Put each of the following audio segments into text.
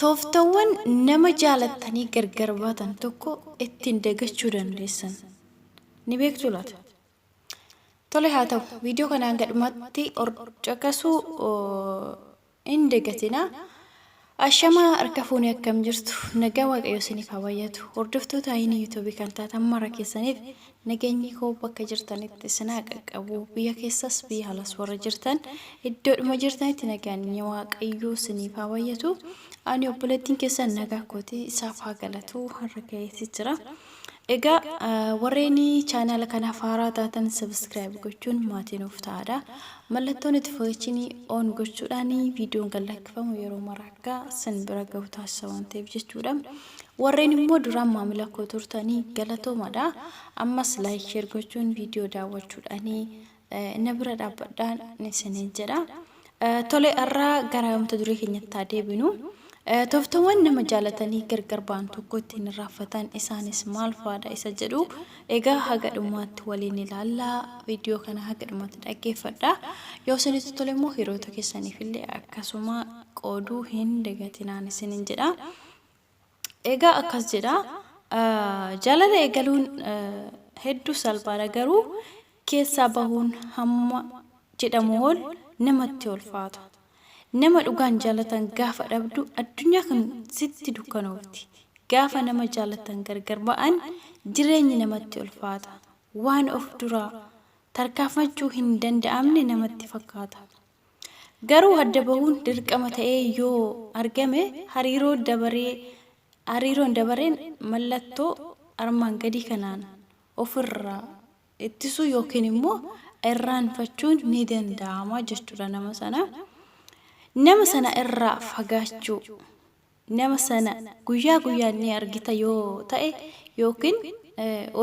Tooftawwan nama jaalattanii gargar baatan tokko ittiin dagachuu dandeessan ni beektu laata? Tole haa ta'u, viidiyoo kana hanga dhumaatti caqasuu hin dagatinaa. Ashamaa harka fuune akkam jirtu nagaa waaqayyo isiniif haa baay'atu hordoftoota ayinii yuutuubii kan taatan mara keessaniif nageenyi koo bakka jirtanitti isin haa qaqqabu biyya keessas biyya alas warra jirtan iddoodhuma jirtanitti nageenyi waaqayyo isiniif haa baay'atu ani obboleettiin keessan nagaa kooti isaaf haa galatu har'a ga'eessi jira Egaa warreen chaanaala kanaaf haaraa taatan subscribe gochuun maatii nuuf ta'aadha. Mallattoo notification on gochuudhaan viidiyoon kan lakkifamu yeroo mara akka sin bira gahu taasisa waan ta'eef jechuudha. Warreen immoo duraan maamila koo turtanii galatoomadha. Ammas like share gochuun viidiyoo daawwachuudhaan na bira dhaabbadhaa isiniin jedha. Tole har'aa gara mata duree keenyatti haa deebinu. Tooftawwan nama jaalatanii gargar ba'an tokko ittiin irraanfatan isaanis maal fa'aadha isa jedhu egaa haga dhumaatti waliin ilaallaa viidiyoo kana haga dhumaatti dhaggeeffadha. Yoo isinitti tole immoo hiriyoota keessaniif illee akkasuma qooduu hin dagatinaan isiniin jedha. Egaa akkas jedha, Jaalala eegaluun hedduu salphaadha, garuu keessaa bahuun hamma jedhamu ol namatti ulfaata. Nama dhugaan jaalatan gaafa dhabdu addunyaa kun sitti dukkanoofti. Gaafa nama jaalatan gargar ba'an jireenyi namatti ulfaata. Waan of duraa tarkaanfachuu hin danda'amne namatti fakkaata. Garuu adda bahuun dirqama ta'ee yoo argame hariiroo dabaree hariiroon dabareen mallattoo armaan gadii kanaan ofirraa ittisuu yookiin immoo irraanfachuun ni danda'ama jechuudha nama sana. Nama sana irraa fagaachuu. nama sana guyyaa guyyaan ni argita yoo ta'e yookiin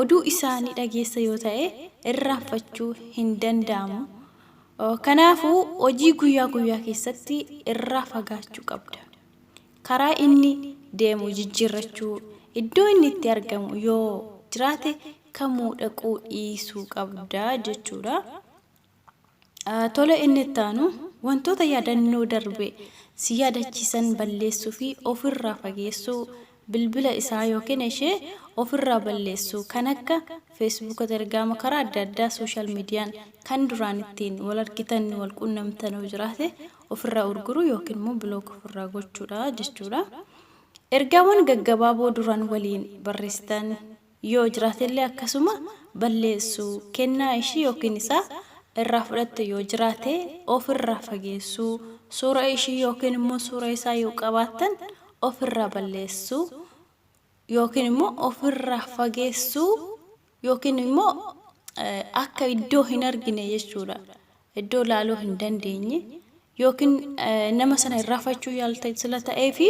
oduu isaa ni dhageessa yoo ta'e irraanfachuu hin danda'amu. Kanaafuu hojii guyyaa guyyaa keessatti irraa fagaachuu qabda. Karaa inni deemu jijjiirrachuu, iddoo inni itti argamu yoo jiraate kamuu dhaquu dhiisuu qabda jechuudha. Tole inni itti aanu wantoota yaadannoo darbe si yaadachiisan balleessuu fi ofirraa fageessuu bilbila isaa yookiin ishee ofirraa balleessuu kan akka feesbuuka telegraama karaa adda addaa sooshaal miidiyaan kan duraan ittiin wal argitan wal quunnamtan yoo jiraate ofirraa urguruu yookiin immoo bilook ofirraa gochuudha jechuudha. Ergaawwan gaggabaaboo duraan waliin barreessitan yoo jiraate illee akkasuma balleessu, kennaa ishii ykn isaa irraa fudhatte yoo jiraate of irraa fageessu, suura ishii ykn immoo suura isaa yoo qabaattan of irraa balleessu ykn immoo of irraa fageessu ykn immoo akka iddoo hin argine jechuudha. iddoo laaluu hin dandeenye yookiin nama sana irraafachuu yaalta sila ta'ee fi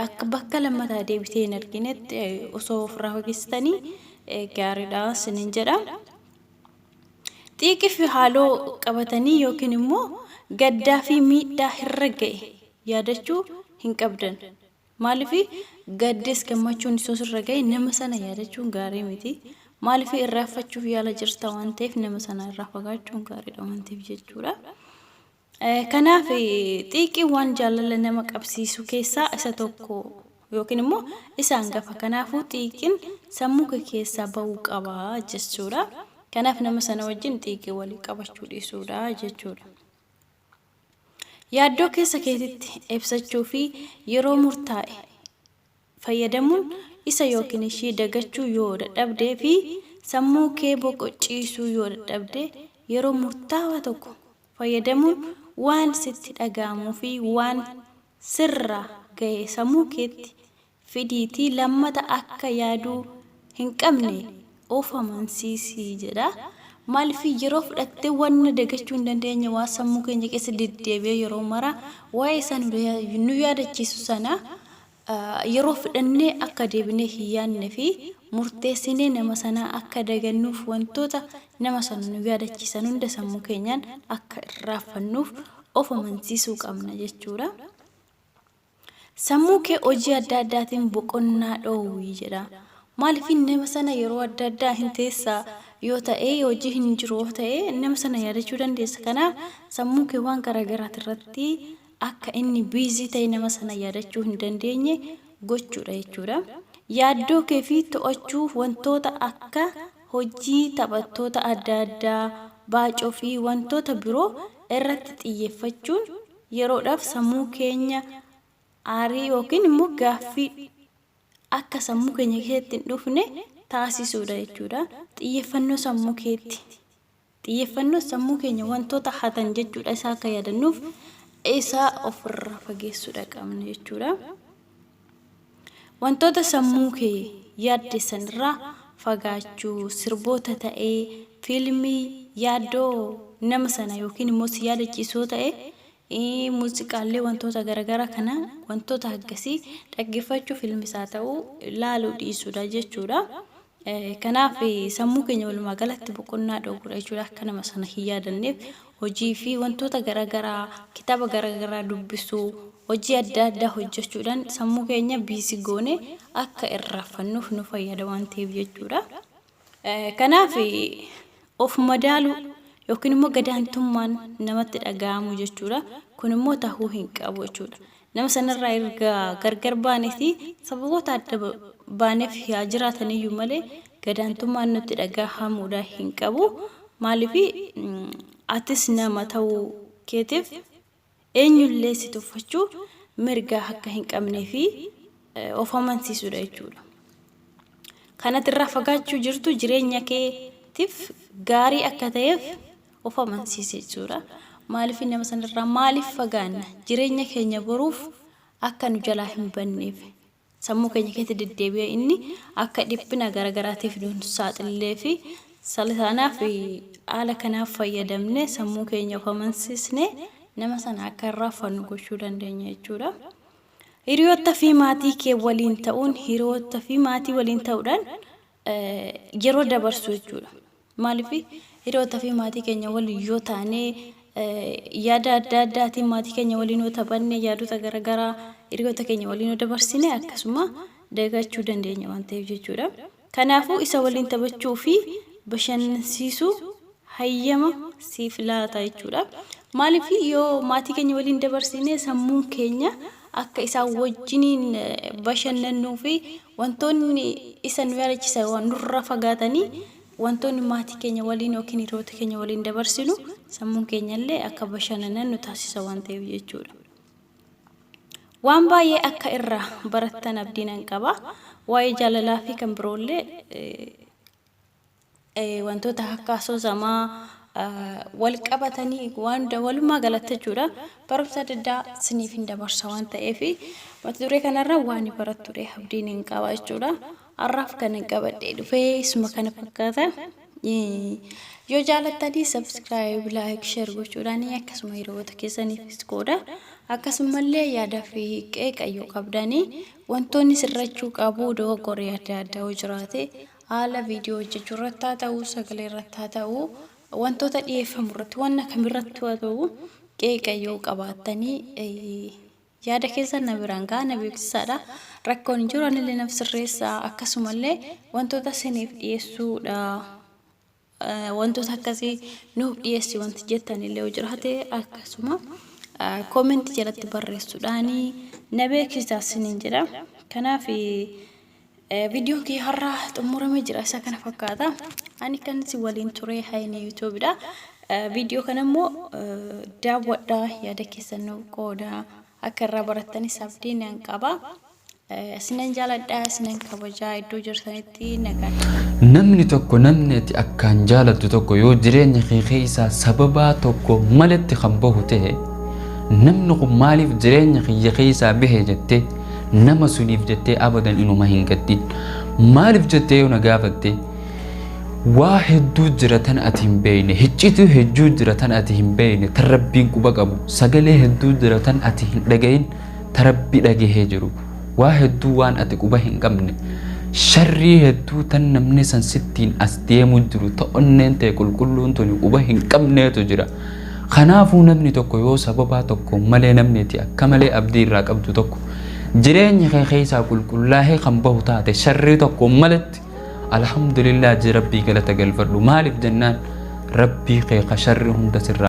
akka bakka lammataa deebitee hin arginetti osoo ofirraa fageessitanii gaariidha sinin jedha. Xiiqii fi haaloo qabatanii yookiin immoo gaddaa fi miidhaa irra ga'e yaadachuu hin qabdan. Maaliif gaddes gammachuunis yoo sirra ga'e nama sana yaadachuun gaarii miti. Maaliif irraanfachuuf yaala jirta waan ta'eef nama sana irraa fagaachuun gaariidha waan ta'eef jechuudha. Kanaaf xiiqiin waan jaalala nama qabsiisu keessaa isa tokko yookiin immoo isa hangafa. Kanaafuu xiiqiin sammuu kee keessaa ba'uu qaba jechuudha. Kanaaf nama sana wajjin xiiqii walii qabachuu dhiisuudha jechuudha. Yaaddoo keessa keetitti ibsachuu fi yeroo murtaa'e fayyadamuun isa yookiin ishii dagachuu yoo dadhabdee fi sammuu kee boqochiisuu yoo dadhabde yeroo murtaawaa tokko fayyadamuun waan sitti dhaga'amuu fi waan sirra ga'e sammuu keetti fidiitii lammata akka yaaduu hin qabne of amansiisi jedha. Maalifii yeroo fudhattee wanna dagachuu hin dandeenye waan sammuu keenya keessa deddeebi'ee yeroo mara waa'ee isaa nu da- nu yaadachiisu sana ah, yeroo fudhannee akka deebinee hin yaadne fi murteessinee nama sanaa akka dagannuuf wantoota nama sana nu yaadachiisan hunda sammuu keenyaan akka irraaffannuuf of amansiisuu qabna jechuudha. Sammuu kee hojii adda addaatiin boqonnaa dhoowwi jedha. Maaliif nama sana yeroo adda addaa hin teessa yoo ta'e hojii hin jiru yoo ta'e nama sana yaadachuu dandeessa. Kanaaf sammuu kee waan garaagaraati irratti akka inni biizii ta'e nama sana yaadachuu hin dandeenye gochuudha jechuudha. Yaaddoo kee fi to'achuuf wantoota akka hojii taphattoota adda addaa, baacoo fi wantoota biroo irratti xiyyeeffachuun Yeroodhaaf sammuu keenya aarii yookiin immoo gaaffii akka sammuu keenya keessatti hin dhufne taasisuudha jechuudha. Xiyyeeffannoo sammuu keetti. Xiyyeeffannoo sammuu keenya wantoota hatan jechuudha isaa akka yaadannuuf isaa ofirraa fageessuudha qabna jechuudha. Wantoota sammuu kee yaaddessan irraa fagaachuu, sirboota ta'ee, fiilmii, yaaddoo nama sana yookiin immoo si yaadachiisu yoo ta'e, ii, muuziqaallee wantoota garagaraa kana wantoota haggasii dhaggeeffachuu fiilmis haa ta'uu laaluu dhiisuudha jechuudha. Kanaaf sammuu keenya walumaa galatti boqonnaa dhoowwuudha jechuudha. Akka nama sana hin yaadanneef hojii fi wantoota garaagaraa kitaaba garaagaraa dubbisuu hojii adda addaa hojjechuudhaan sammuu keenya biisi goone akka irraaffannuuf nu fayyada waan ta'eef jechuudha. Kanaaf of madaaluu yookiin immoo gadaantummaan namatti dhaga'amu jechuudha. Kun immoo tahuu hin qabu jechuudha. Nama sanarraa erga gargar baaneeti sababoota adda baaneef haa jiraataniyyuu malee gadaantummaan nutti dhagahamuudha hin qabu. Maaliif atis nama ta'uu keetiif eenyullee si tuffachuu mirgaa akka hin qabnee fi of amansiisuudha jechuudha. Kanati irraa fagaachuu jirtu jireenya keetiif gaarii akka ta'eef of amansiise jechuudha. Maaliif nama sanarraa maaliif fagaanna? Jireenya keenya boruuf akka nu jalaa hin banneef sammuu keenya keessa deddeebi'ee inni akka dhiphina garagaraatiif nuun saaxillee fi sanaaf haala kanaaf fayyadamne sammuu keenya of amansiisne nama sana akka irraa fannu gochuu dandeenya jechuudha. Hiriyoota fi maatii kee waliin ta'uun hiriyoota fi maatii waliin ta'uudhaan yeroo dabarsuu jechuudha. Maaliif hiriyoota fi maatii keenya waliin yoo taane yaada adda addaatiin maatii keenya waliin yoo taphanne yaadota garaagaraa hiriyoota keenya waliin yoo dabarsine akkasuma dagachuu dandeenya waan ta'eef jechuudha. Kanaafuu isa waliin taphachuu fi bashannansiisuu hayyama siif laata jechuudha. Maaliif yoo maatii keenya waliin dabarsine sammuun keenya akka isaan wajjiniin bashannannuu fi wantoonni isa nu yaadachisan waan nurra fagaatanii wantoonni maatii keenya waliin yookiin hiriyoota keenya waliin dabarsinu sammuun keenyallee akka bashannanan nu taasisa waan ta'eef jechuudha. Waan baay'ee akka irraa barattan abdii nan qaba. Waa'ee jaalalaa fi kan biroollee eh, wantoota akka asoosamaa wal qabatanii waan walumaa galatti jechuudha barumsa adda addaa siniif hin dabarsa waan ta'eef mata duree kanarra waan barattuudha abdiin hin qaba jechuudha har'aaf kan hin qabadhee dhufee isuma kana fakkaata yoo jaalattanii sabskiraayib laayik sheer gochuudhaan akkasuma hiriyoota keessaniifis qooda akkasumallee yaadaa fi qeeqa yoo qabdanii wantoonni sirrachuu qabu dogoggoree adda addaa yoo jiraate Haala viidiyoo hojjechuu irratti haa ta'u, sagalee irratti haa ta'u, wantoota dhiyeeffamu irratti, wanna kam irratti haa ta'u, qeeqa yoo qabaattanii eh, yaada keessan na biraan ga'a, na beeksisaadha. Rakkoon hin jiru, anillee naf sirreessa. Akkasumallee wantoota isiniif dhiyeessuudha. Wantoota akkasii nuuf dhiyeessi wanti jettan illee yoo jiraate akkasuma comment jalatti barreessuudhaan na beeksisa sinin jedha. Kanaaf viidiyoon kee har'aa xumuramee jira isa kana fakkaata. Ani kan si waliin ture Hayinee Yuutuubidha. Viidiyoo kana immoo daawwadhaa yaada keessan nuuf qoodaa akka irraa barattanis abdii nan qaba. Isinan jaaladha, isinan kabajaa iddoo jirtanitti nagaan. Namni tokko namni ati akkaan jaalattu tokko yoo jireenya kee keessaa sababaa tokko maletti kan bahu ta'e namni kun maaliif jireenya kiyya keessaa bahe jettee nama suniif jettee abadan inuma hin gaddin. Maaliif jettee yoo na gaafatte waa hedduu jira tan ati hin beekne hiccituu hedduu jira tan ati hin beekne tan rabbiin quba qabu sagalee hedduu jira tan ati hin dhagahin ta Rabbi dhagahee jiru, waa hedduu waan ati quba hin qabne, sharrii hedduu tan namni san sittiin as deemu jiru ta onneen tee qulqulluun tuni quba hin qabneetu jira. Kanaafuu namni tokko yoo sababaa tokkoon malee namni ati akka malee abdii irraa qabdu tokko jireenya kee keessaa qulqullaahee kan bahu taate sharrii tokkoon maletti Alhamdulillah ji Rabbii galata galfadhu maaliif jennaan Rabbii kee ka sharri hunda sirraa